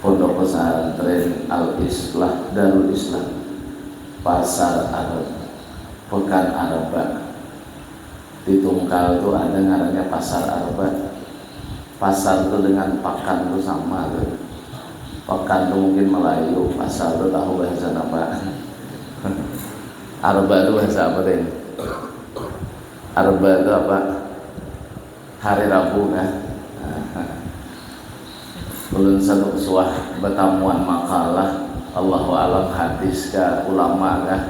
Pondok Pesantren Al Islah Darul Islam, Pasar Arab, Pekan Arba. Di Tungkal tu ada ngarannya Pasar Arba. Pasar tu dengan pakan tu sama tu. Pekan tu mungkin Melayu, pasar tu tahu bahasa napa. Arba tu bahasa apa deh? Arba tu apa? Hari Rabu kah? Ulun satuk suah batamuan makalah, Allahu a'lam hadis ka ulama kah?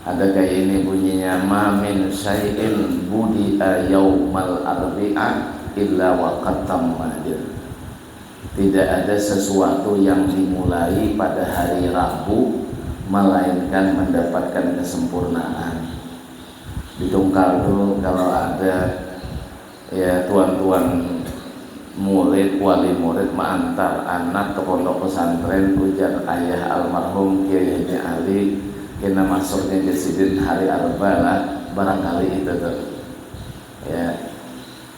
Ada kaya ini bunyinya ma min syai'in budi'a yaumal arbi'a illa wa qad tamma jar. Tidak ada sesuatu yang dimulai pada hari Rabu melainkan mendapatkan kesempurnaan. Di tungkal tu kalau ada ya tuan-tuan murid, wali murid maantar anak ke pondok pesantren ujar ayah almarhum Kiai Haji Ali kena masuknya ja sidin hari Arba lah barangkali itu tu ya.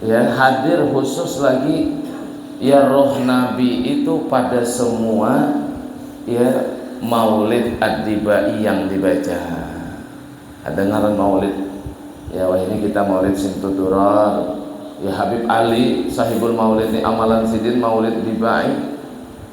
ya hadir khusus lagi ya roh Nabi itu pada semua ya Maulid Ad-Dibai yang dibaca. Ada ngaran Maulid. Ya wah ini kita Maulid sing tuturan. Ya Habib Ali sahibul Maulid ini amalan sidin Maulid Dibai.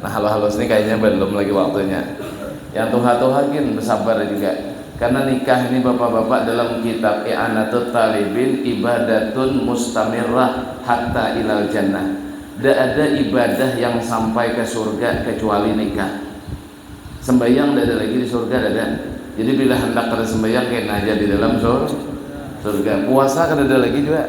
Nah halus-halus nih kayaknya belum lagi waktunya. Yang tuha-tuha gin bersabar juga. Karena nikah ini bapak-bapak dalam kitab I'anatut Talibin ibadatun mustamirrah hatta ilal jannah. Ndak ada ibadah yang sampai ke surga kecuali nikah. Sembahyang ndak ada lagi di surga ndak ada. Jadi bila hendak kada sembahyang kena aja di dalam sur surga. Puasa kada ada lagi juga.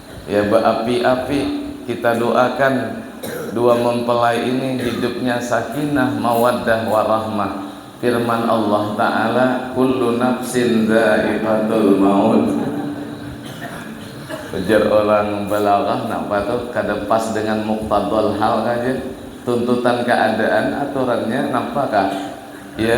ya baapi-api kita doakan dua mempelai ini hidupnya sakinah mawaddah warahmah firman Allah taala kullu nafsin dzaiqatul maut ujar orang balaghah napa tuh kada pas dengan muqtadal hal aja tuntutan keadaan aturannya napa kah ya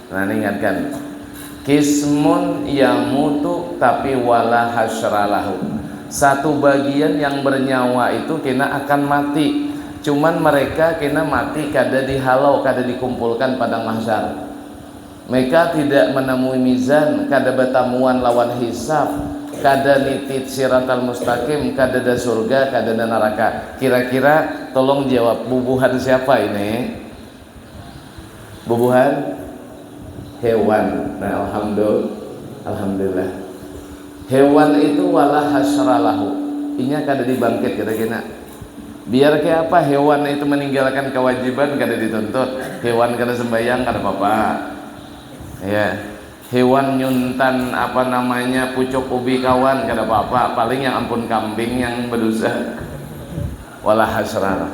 Nah ningatkan kismun yamutu tapi wala hasralahu satu bagian yang bernyawa itu kena akan mati cuman mereka kena mati kada dihalau kada dikumpulkan padang mahsyar meka tidak menamui mizan kada batamuan lawan hisab kada niti siratal mustaqim kadada surga kadada naraka kira-kira tolong jawab bubuhan siapa ini Bubuhan hewan. Nah, alhamdul, alhamdulillah. Hewan itu wala hasra lahu. Inya kada dibangkit kita kena. Biar kaya apa hewan itu meninggalkan kewajiban kada dituntut. Hewan kada sembahyang kada apa-apa. Ya. Hewan nyuntan apa namanya pucuk ubi kawan kada apa-apa. Paling yang ampun kambing yang bedosa. Wala hasra lah.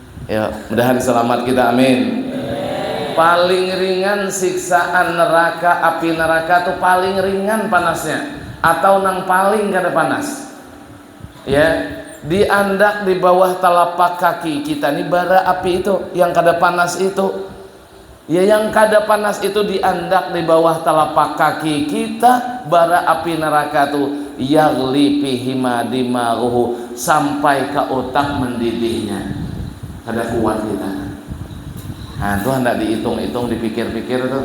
Ya, mudahan selamat kita amin. Paling ringan siksaan neraka api neraka tu paling ringan panasnya atau nang paling kada panas. Ya, diandak di bawah telapak kaki kita ni bara api itu yang kada panas itu. Ya yang kada panas itu diandak di bawah talapak kaki kita bara api neraka tu yaghli fihima dimaghuhu sampai ka utak mendidihnya. Kada kuat kita. Nah, tu handak diitung-itung, dipikir-pikir tu.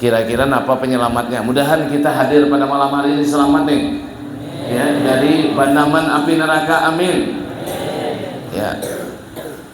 Kira-kira napa penyelamatnya? Mudahan kita hadir pada malam hari ini selamat nih. Ya, dari bandaman api neraka. Amin. Ya.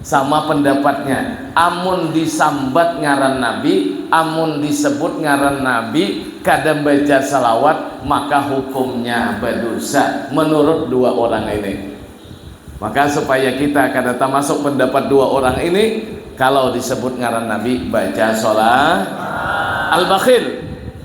Sama pendapatnya, amun disambat ngaran Nabi, amun disebut ngaran Nabi kada baca shalawat maka hukumnya badosa, menurut dua orang ini. Maka supaya kita kada tamasuk pendapat dua orang ini, kalau disebut ngaran Nabi baca shalawat. Al-Bakhil.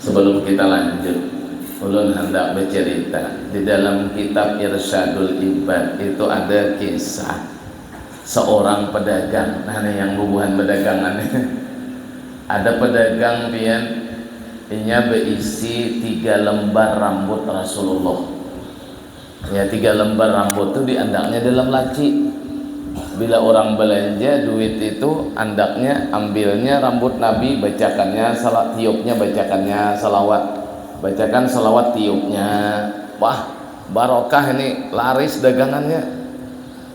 Sebelum kita lanjut, ulun handak becerita, di dalam kitab Irsyadul Ibad itu ada kisah seorang pedagang, nah nih yang bubuhan bedagangan nih, ada pedagang pian inya beisi tiga lembar rambut Rasulullah. Ya tiga lembar ramput tu diandaknya dalam laci. Bila orang belanja duit itu andaknya ambilnya rambut nabi bacakannya salah tiupnya bacakannya salawat bacakan salawat tiupnya wah barokah ini laris dagangannya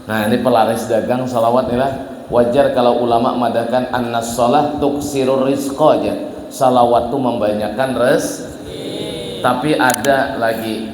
nah ini pelaris dagang salawat inilah wajar kalau ulama madahkan anna salah tuksirur rizqa aja salawat tu membanyakan res tapi ada lagi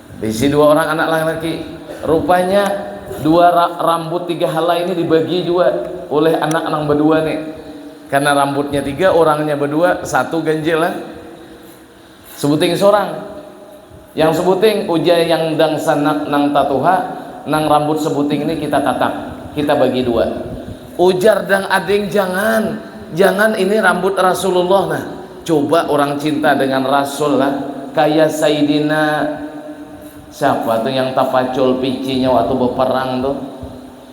Bisi dua orang anak laki-laki. Rupanya dua rambut tiga halai ini dibagi juga oleh anak nang berdua nih. Karena rambutnya tiga, orangnya berdua, satu ganjil lah. Sebuting seorang. Yang sebuting, ujar yang dangsanak nang tatuha, nang rambut sebuting ini kita tatak, kita bagi dua. Ujar dang ading, jangan, jangan ini rambut Rasulullah nah, Cuba urang cinta dengan rasul lah kaya saidina siapa tu yang tapacul picinya waktu beperang tu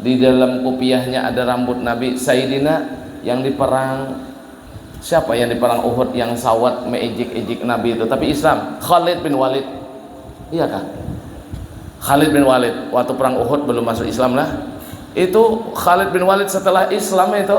di dalam kupiahnya ada rambut nabi saidina yang di perang siapa yang di perang uhud yang sawat meijik ijik nabi tu tapi islam khalid bin walid iya kah khalid bin walid waktu perang uhud belum masuk islam lah itu khalid bin walid setelah islam itu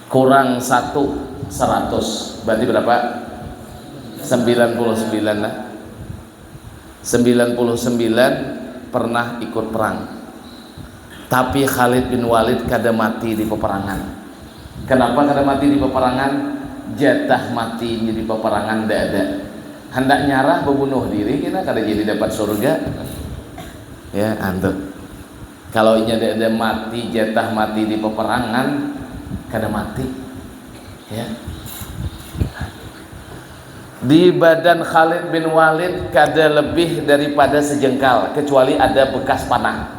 Kurang satu seratus berarti berapa? Sembilan puluh sembilan nah. Sembilan puluh sembilan pernah ikut perang. Tapi Khalid bin Walid kada mati di peperangan. Kenapa kada mati di peperangan? Jatah mati di peperangan nda ada. Handak nyarah bebunuh diri kena kada jadi dapat surga. Ya, antuk. Kalo inya dede mati jetah mati di peperangan kada mati ya di badan Khalid bin Walid kada lebih dari pada sejengkal kecuali ada bekas panah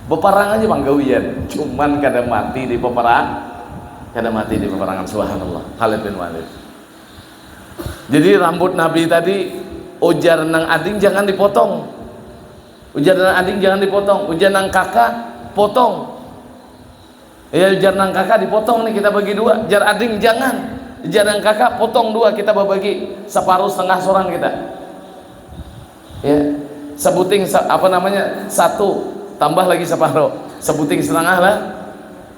beparang aja pang gawian cuman kada mati di peperang kada mati di peperangan subhanallah Khalid bin Walid jadi rambut Nabi tadi ujar nang ading jangan dipotong Ujar nang adik jangan dipotong, ujar nang kaka potong. Ya ujar nang kaka dipotong nih kita bagi dua, ujar adik jangan. Ujar nang kaka potong dua kita berbagi separuh setengah seorang kita. Ya, sebuting apa namanya satu tambah lagi separuh, sebuting setengah lah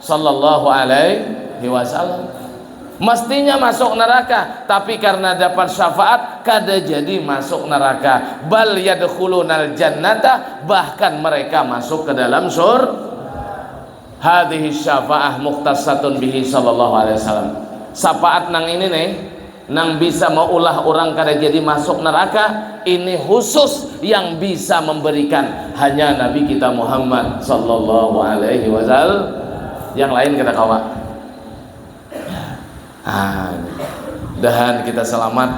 Shallallahu alaihi wasallam. Mestinya masuk neraka, tapi karena dapat syafaat kada jadi masuk neraka. Bal yadkhulunal jannata, bahkan mereka masuk ke dalam sur. Hadhihi syafaah mukhtassatun bihi Shallallahu alaihi wasallam. Syafaat nang ini nih Nang bisa maulah urang kada jadi masuk neraka, ini khusus yang bisa memberikan hanya Nabi kita Muhammad sallallahu alaihi wasal, yang lain kada kawa. Nah, dahan kita selamat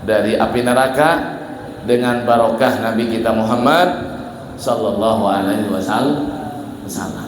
dari api neraka dengan barokah Nabi kita Muhammad sallallahu alaihi wasallam.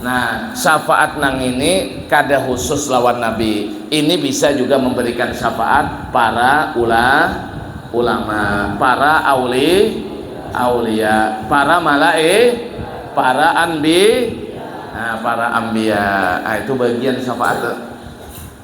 Nah, syafaat nang ini kada khusus lawan Nabi. Ini bisa juga memberikan syafaat para ula, ulama, para auli, aulia, para malai, para anbi, nah, para anbiya. Nah, itu bagian syafaat.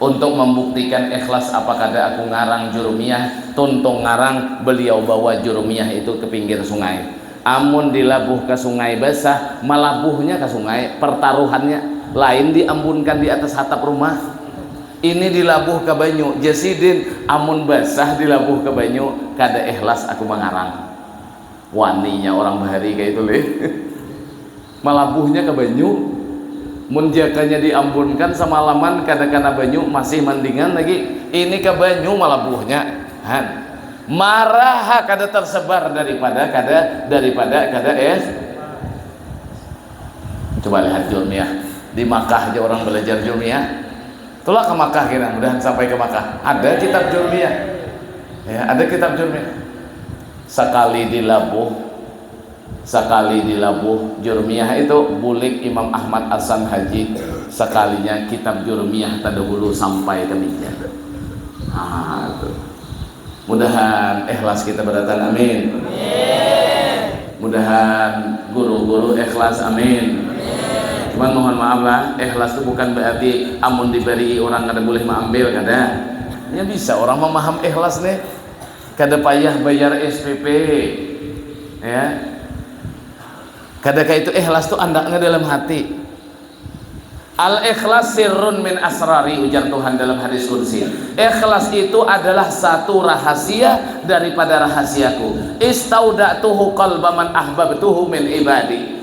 Untuk membuktikan ikhlas apa kada aku ngarang jurumiah, tuntung ngarang beliau bawa jurumiah itu ke pinggir sungai. Amun dilabuh ka sungai basah, malabuhnya ka sungai, pertaruhannya, lain diambunkan di atas hatap rumah. Ini dilabuh ka banyu, jar sidin, amun basah dilabuh ka banyu, kada ikhlas aku mangarang. Waninya urang bahari kaya itu lih. Malabuhnya ka banyu, mun jakanya di ambunkan samalaman kada kana banyu masih mandingan lagi, ini ka banyu malabuhnya han, maraha kada tarsebar daripada kada daripada kada es. Coba lihat julmiah, di makkah ja urang balajar julmiah, tulak ka makkah kena mudahan sampai ka makkah ada kitab julmiah ya ada kitab julmiah, sakali di labuh. Sakali di labuh Jurmiyah itu bulik Imam Ahmad Asan Haji sakalinya kitab Jurmiyah tadahulu sampai ka mija. Haa tu. Mudahan ikhlas kita barataan amin. Mudahan guru-guru ikhlas amin. Cuman mohon maaf lah, ikhlas tu bukan berarti amun dibarii urang kada bulih maambil kada. Nya bisa urang mamaham ikhlas nih. Kada payah bayar SPP. Ya. Kada kayak itu ikhlas tuh andaknya dalam hati. Al ikhlas sirrun min asrari ujar Tuhan dalam hadis kursi. Ikhlas itu adalah satu rahasia daripada rahasiaku. Istauda'tuhu qalba man ahbabtuhu min ibadi.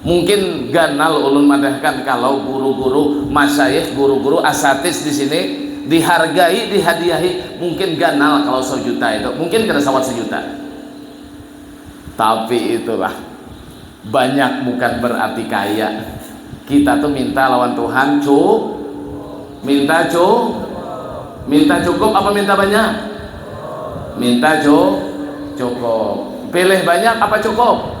Mungkin ganal ulun madahkan kalau guru-guru, masyayikh, guru-guru, asatiz di sini dihargai, dihadiahi mungkin ganal kalau sajuta itu, mungkin kada sawat sajuta. Tapi itulah, banyak bukan berarti kaya. Kita tu minta lawan Tuhan cu, minta cu, minta cukup apa minta banyak? Minta cu, cukup. Pilih banyak apa cukup?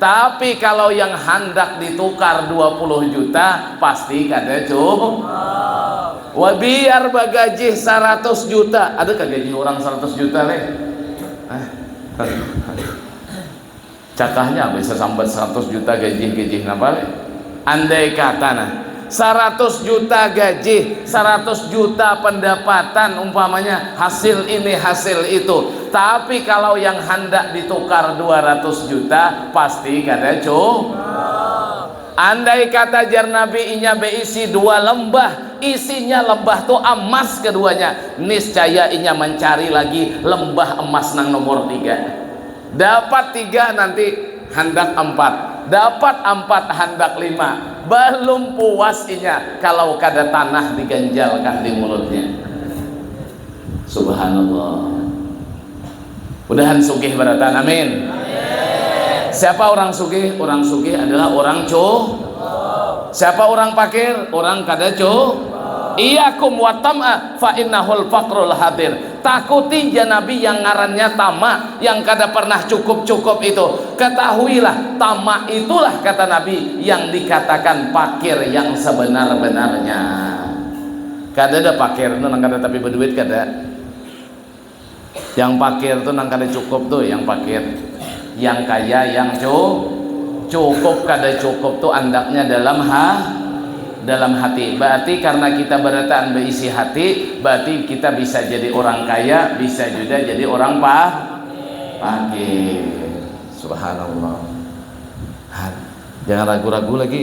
Tapi kalau yang handak ditukar dua puluh juta pasti kada cukup. Wah biar bagajih saratus juta, ada kah gaji orang saratus juta leh? Eh. Cakahnya bisa sambat saratus juta gajih-gajih napa leh? Andai kata nah, saratus juta gaji, saratus juta pendapatan umpamanya hasil ini hasil itu. Tapi kalau yang handak ditukar dua ratus juta pasti kada cu. Andai kata jar Nabi inya beisi dua lembah, isinya lembah tu amas keduanya, niscaya inya mancari lagi lembah emas nang nomor tiga. Dapat tiga nanti handak ampat, dapat ampat handak lima, balum puas inya kalau kada tanah diganjalkan di mulutnya. Subhanallah. Mudahan sugih barataan. Amin. Siapa orang sugih? Orang sugih adalah orang cu. Siapa orang pakir? Orang kada cu. Iyakum wa tam'a fa innahul faqrul hadir. Takuti ja nabi yang ngarannya tamak, yang kada pernah cukup-cukup itu. Ketahuilah, tamak itulah kata Nabi yang dikatakan pakir yang sebenar-benarnya. Kadada pakir tu nang kada tapi beduit, kada. Yang pakir tu nang kada cukup tu yang pakir. Yang kaya yang cu cukup kada cukup tu andaknya dalam ha dalam hati. Baarti karna kita barataan baisi hati, baarti kita bisa jadi urang kaya, bisa juda jadi urang pa pakir. Subhanallah. Jangan ragu-ragu lagi.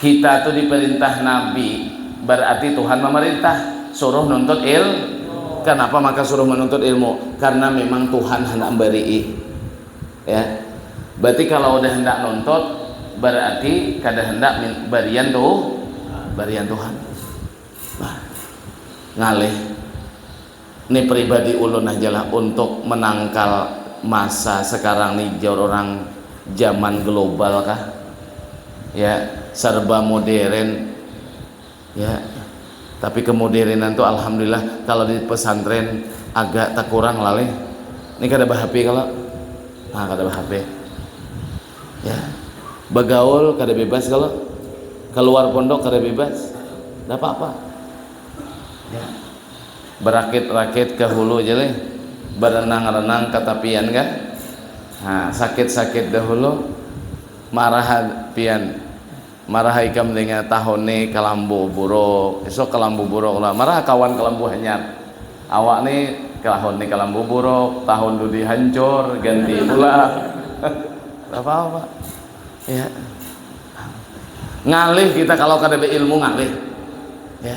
Kita tu diperintah Nabi, berarti Tuhan memerintah, suruh nuntut il. Kenapa maka suruh menuntut ilmu? Karena memang Tuhan hendak memberi. Ya. Berarti kalau udah hendak nuntut, berarti kada hendak berian tu, berian Tuhan. Nah, ngalih. Ni pribadi ulun haja lah untuk menangkal masa sekarang ni jar orang zaman global kah ya serba moderen ya tapi kemoderenan tu alhamdulillah kalo di pesantren agak tekurang lah leh ni kada behp kalo ha kada behp ya begaul kada bebas kalo keluar pondok kada bebas nda apa-apa ya. Berakit-rakit ke hulu ja lih, berenang-renang ke tapian kah? Ha, sakit-sakit dahulu, marah ha pian, marah ha ikam dengar tahun ni kelambu buruk, esok kelambu buruk lah, marah ha kawan kelambu hanyar, awak ni tahun ni kelambu buruk, tahun dudi hancur, ganti pula. Kada papa. Ya. Ngalih kita kalau kada beilmu ngalih. Ya.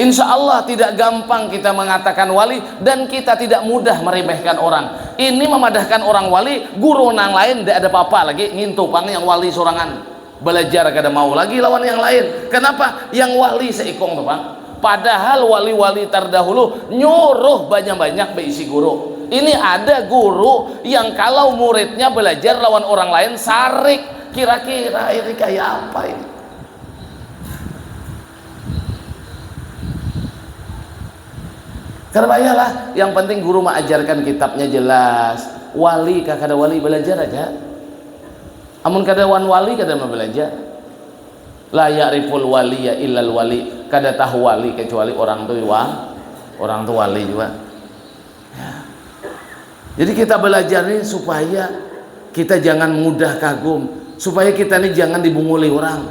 Insya Allah tidak gampang kita mengatakan wali dan kita tidak mudah meremehkan orang. Ini memadahkan orang wali, guru nang lain tidak ada apa-apa lagi, ngintu pang yang wali sorangan. Belajar kada mau lagi lawan yang lain. Kenapa? Yang wali seikung tu pang. Padahal wali-wali tardahulu nyuruh banyak-banyak beisi guru. Ini ada guru yang kalau muridnya belajar lawan orang lain sarik. Kira-kira ini kaya apa ini? Kada payah lah, yang penting guru maajarkan kitabnya jelas. Wali kah kada wali belajar aja. Amun kada wan wali kada mau belajar. La ya'riful wali ya illal wali. Kada tahu wali kecuali orang tu wa, orang tu wali juga. Ya. Jadi kita belajar ini supaya kita jangan mudah kagum, supaya kita ini jangan dibunguli orang.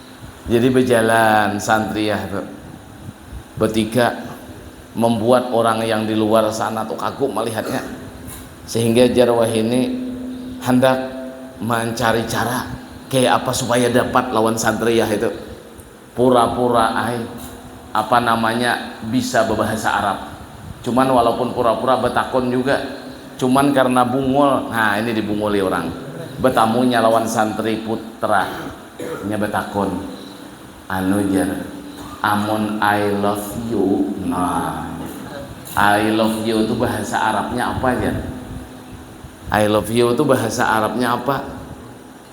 Jadi bejalan santriah tu betiga membuat orang yang di luar sana tu kagum melihatnya. Sehingga jar wahini handak mancari cara kaya apa supaya dapat lawan santriah itu. Pura-pura ai apa namanya bisa bebahasa Arab. Cuman walaupun pura-pura betakun juga. Cuman karena bungul, nah ini dibunguli orang. Betamunya lawan santri putra. Inya batakun, anu jar, amun I love you, nah, I love you tu bahasa Arabnya apa jar? I love you tu bahasa Arabnya apa?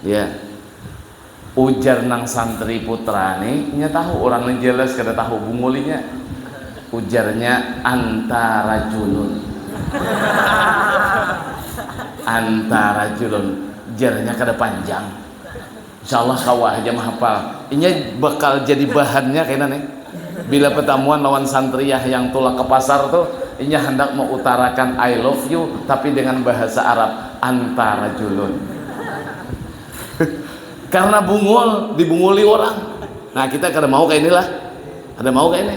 Ya, ujar nang santri putra ni, inya tahu urang ni jelas kada tahu bungul inya, ujarnya anta rajulun, anta rajulun, jarnya kada panjang. Insya Allah kawa haja mahapal. Inya bakal jadi bahannya kena nih. Bila pertemuan lawan santriah yang tulak ke pasar tuh, inya handak meutarakan I love you tapi dengan bahasa Arab, anta rajulun. Karena bungul, dibunguli orang. Nah kita kada mau kaya inilah. Kada mau kaya ini.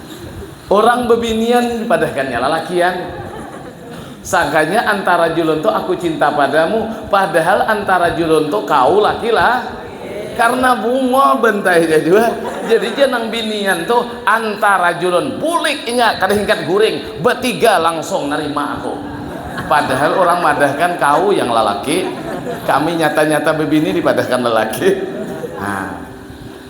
Urang bebinian dipadahkannya lalakian. Sangkanya antara julun tu aku cinta padamu, padahal antara julun tu kau laki la. Karna bungol bantainya jua, jadinya nang binian tu antara julun bulik inya kada hingkat guring, batiga langsung narima aku. Padahal urang madahkan kau yang lalaki, kami nyata-nyata bebini dipadahkan lalaki. Nah.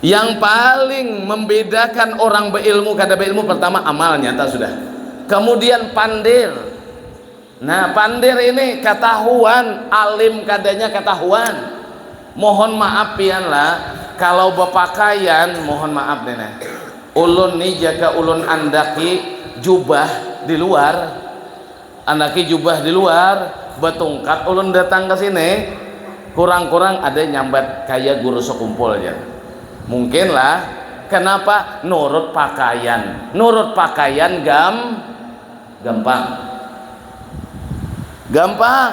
Yang paling membedakan orang beilmu kada beilmu pertama amal nyata sudah. Kemudian pandir. Nah, pandir ini ketahuan, alim kadanya ketahuan. Mohon maaf pian lah, kalau bepakaian mohon maaf nih nah. Ulun nih jaka ulun andaki jubah di luar Andaki jubah di luar, batungkat ulun datang ka sini, kurang-kurang ada nyambat kaya guru sakumpul jar. Mungkin lah, kanapa nurut pakaian, nurut pakaian gam gampang. Gampang.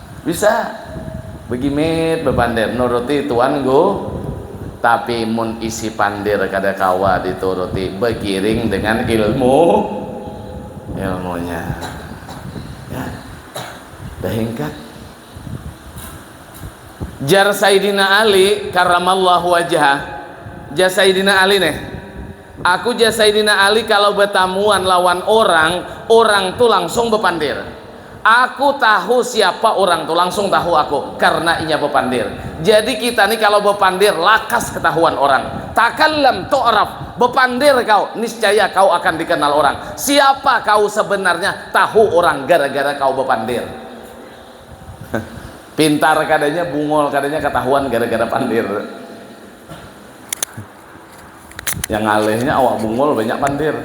Bisa. Begimit bepandir, nuruti tuan gu. Tapi mun isi pandir kada kawa dituruti, begiring dengan ilmu ilmunya. Ya. Dah hingkat. Jar Saidina Ali karamallahu wajah. Jar Saidina Ali nih. Aku jar Saidina Ali kalau betamuan lawan orang, orang tu langsung bepandir. Aku tahu siapa urang tu, langsung tahu aku, karna inya bapandir. Jadi kita ni kalau bapandir lakas ketahuan orang. Takallam tu'raf, bapandir kau, niscaya kau akan dikenal orang. Siapa kau sebenarnya, tahu urang gara-gara kau bapandir. Pintar kadanya, bungul kadanya ketahuan gara-gara pandir. Yang ngalihnya awak bungul banyak pandir.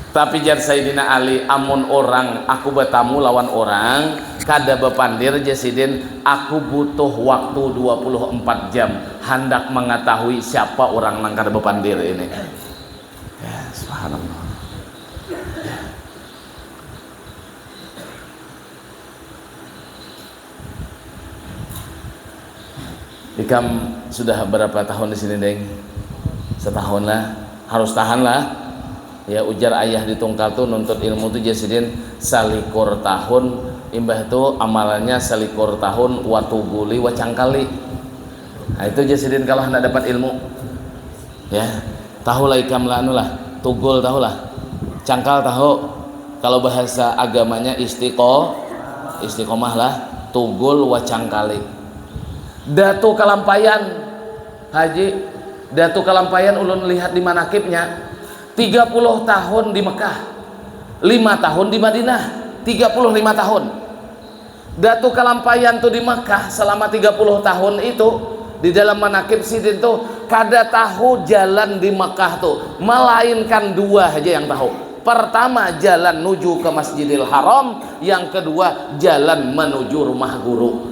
Tapi jar Saidina Ali, amun urang aku batamu lawan urang kada bapandir jar sidin, aku butuh waktu dua puluh empat jam handak mangatahui siapa urang nang kada bapandir ini. Ya, subhanallah. Ikam sudah berapa tahun di sini, Deng? Setahun lah. Harus tahan lah. Ya ujar ayah di tungkal tu nuntut ilmu tu jar sidin salikur tahun, imbah tu amalannya salikur tahun watuguli wacangkali. Nah itu jar sidin kalah handak dapat ilmu. Ya, tahu lah ikam lah anu lah, tugul tahu lah. Cangkal tahu. Kalau bahasa agamanya istiqo, istiqomah lah, tugul wa cangkali. Datu kalampayan, Haji, Datu kalampayan ulun lihat di manakibnya, 30 tahun di Mekah, 5 tahun di Madinah, 35 tahun. Datu Kalampayan tu di Mekah selama tiga puluh tahun itu di dalam manakib sidin tu kada tahu jalan di Mekah tu melainkan dua haja yang tahu pertama jalan nuju ke Masjidil Haram yang kedua jalan menuju rumah guru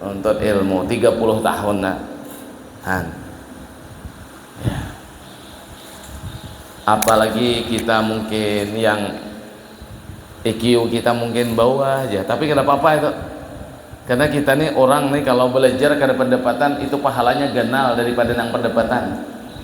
Nuntut ilmu 30 tahun nah. Han. Ya. Apalagi kita mungkin yang IQ kita mungkin bawah aja, tapi kada apa-apa itu. Karena kita nih orang nih kalau belajar kada pendapatan itu pahalanya ganal daripada nang pendapatan.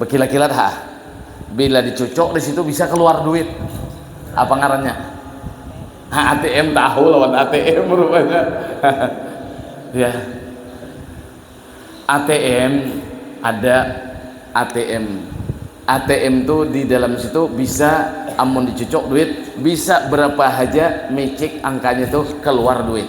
Bekilat-kilat ha. Bila dicucuk di situ bisa keluar duit. Apa ngarannya? Ha, ATM tahu lawan ATM rupanya. ya. ATM ada ATM. ATM tu di dalam situ bisa amun dicucuk duit bisa berapa haja micik angkanya tu keluar duit.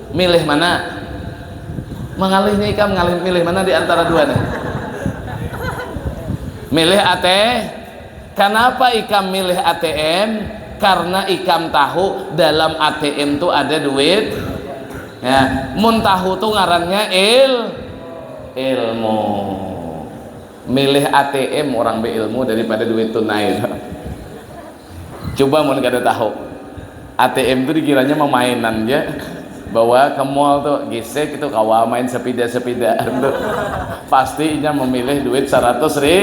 Milih mana? Mangalih nih ikam ngalih milih mana di antara dua nih? Milih AT. Kenapa ikam milih ATM? Karena ikam tahu dalam ATM tuh ada duit. Ya, mun tahu tuh ngarannya il ilmu. Milih ATM orang beilmu daripada duit tunai. Cuba mun kada tahu. ATM tu dikiranya mamainan ja. Bawa ka mall tu, gisik itu kawa main sapida-sapidaan tu. Pasti inya mamilih duit saratus ri.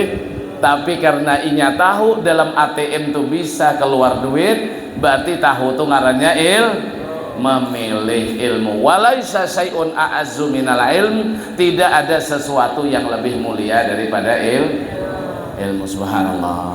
Tapi karna inya tahu dalam ATM tu bisa kaluar duit, barti tahu tu ngarannya il, mamilih ilmu. Walaisa syai'un a'azzu minal ilm, tidak ada sesuatu yang lebih mulia daripada il, ilmu. Subhanallah.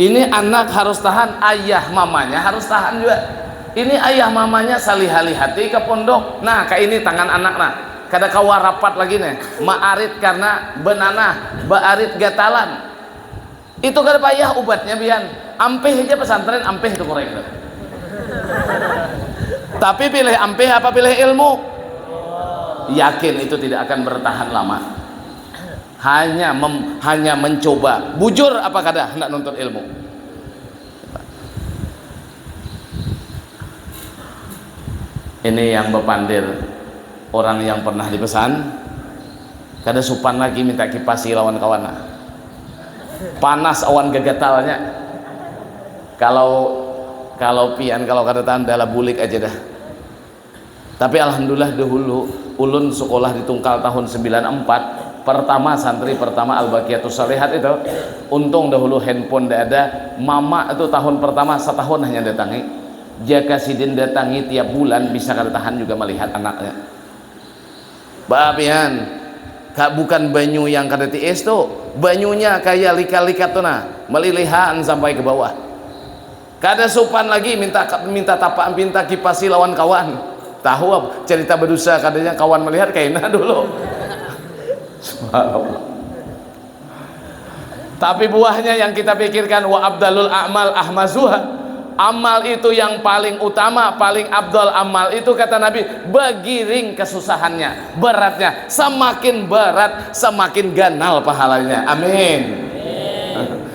Ini anak harus tahan, ayah mamanya harus tahan jua. Ini ayah mamanya salihalihati ka pondok. Nah, ka ini tangan anak nah. Kada kawa rapat lagi nih. Maarit karna benanah, baarit gatalan. Itu kada payah ubatnya pian. Ampih haja pesantren, ampih itu kureng tuh. Tapi pilih ampih apa pilih ilmu? Yakin itu tidak akan bertahan lama. Hanya mem, hanya mencoba. Bujur apa kada handak nuntut ilmu? Ini yang bepandir orang yang pernah dipesan kada supan lagi minta kipasi lawan kawan nah. Panas awan gagatalnya. Kalau kalau pian kalau kada tahan dalah bulik aja dah. Tapi alhamdulillah dahulu ulun sukolah di Tungkal tahun sembilan ampat pertama santri pertama al baqiyatus shalihat itu untung dahulu handphone nda ada mama tu tahun pertama satahun hanya datangi jaka sidin datangi tiap bulan bisa kada tahan juga malihat anaknya ba pian ka bukan banyu yang kada tiis tu banyunya kaya lika-likat tu nah malilihaan sampai ke bawah. Kada supan lagi minta minta tapaan pinta kipasi lawan kawan. Tahu apa cerita bedusa kadanya kawan melihat kaina dulu. Subhanallah. Tapi buahnya yang kita pikirkan wa abdalul a'mal ahmazuha. Amal itu yang paling utama, paling abdal amal itu kata Nabi begiring kesusahannya, beratnya. Semakin berat, semakin ganal pahalanya. Amin.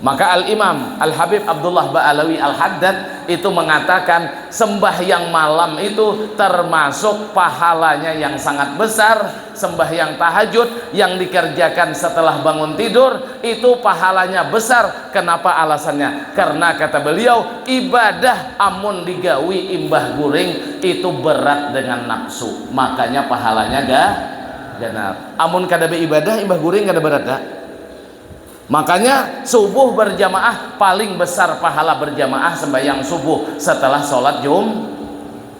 Maka Al-Imam, Al-Habib Abdullah Ba'alawi Al-Haddad itu mengatakan sembahyang malam itu termasuk pahalanya yang sangat besar, sembahyang tahajud yang dikerjakan setelah bangun tidur itu pahalanya besar, kenapa alasannya? Karena kata beliau, ibadah amun digawi imbah guring itu berat dengan nafsu, makanya pahalanya ga ganap. Amun kada beibadah imbah guring kada berat ga? Makanya subuh barjamaah paling besar pahala berjamaah sembahyang subuh setelah sholat jum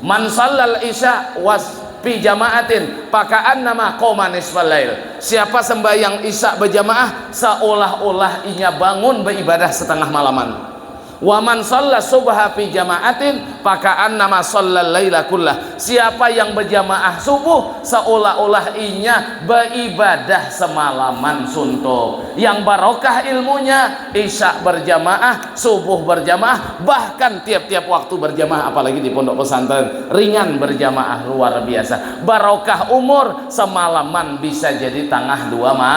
man shallal isya was fi jama'atin fakaannama qoma nisfal lail siapa sembahyang isya bejamaah seolah-olah inya bangun beibadah setengah malaman. Wa man shalla subha fi jama'atin faka'annama shallal laila kullah, siapa yang bajamaah subuh seolah-olah inya beibadah semalaman suntuk. Yang barokah ilmunya, isya berjamaah, subuh berjamaah, bahkan tiap-tiap waktu berjamaah apalagi di pondok pesantren ringan berjamaah luar biasa. Barokah umur, semalaman bisa jadi tangah dua ma.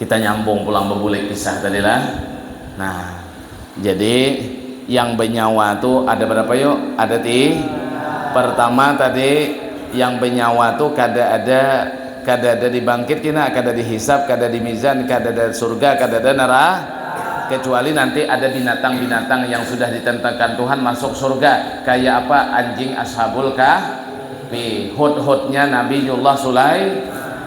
Kita nyambung pulang bebulik kisah tadi lah. Nah, jadi yang benyawa tu ada berapa yuk? Ada ti. Pertama tadi yang benyawa tu kada ada kada ada dibangkit kina, kada dihisap, kada di mizan, kada ada surga, kada ada nera kecuali nanti ada binatang-binatang yang sudah ditentekan Tuhan masuk surga kaya apa anjing ashabul kahfi, hut-hutnya Nabiullah Sulaiman.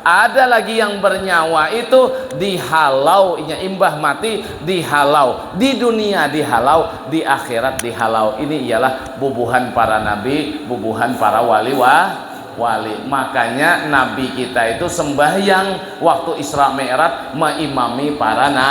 Ada lagi yang bernyawa itu dihalau, inya imbah mati dihalau, di dunia dihalau, di akhirat dihalau. Ini ialah bubuhan para nabi, bubuhan para wali wa wali. Makanya nabi kita itu sembahyang waktu Isra Mi'raj meimami para na.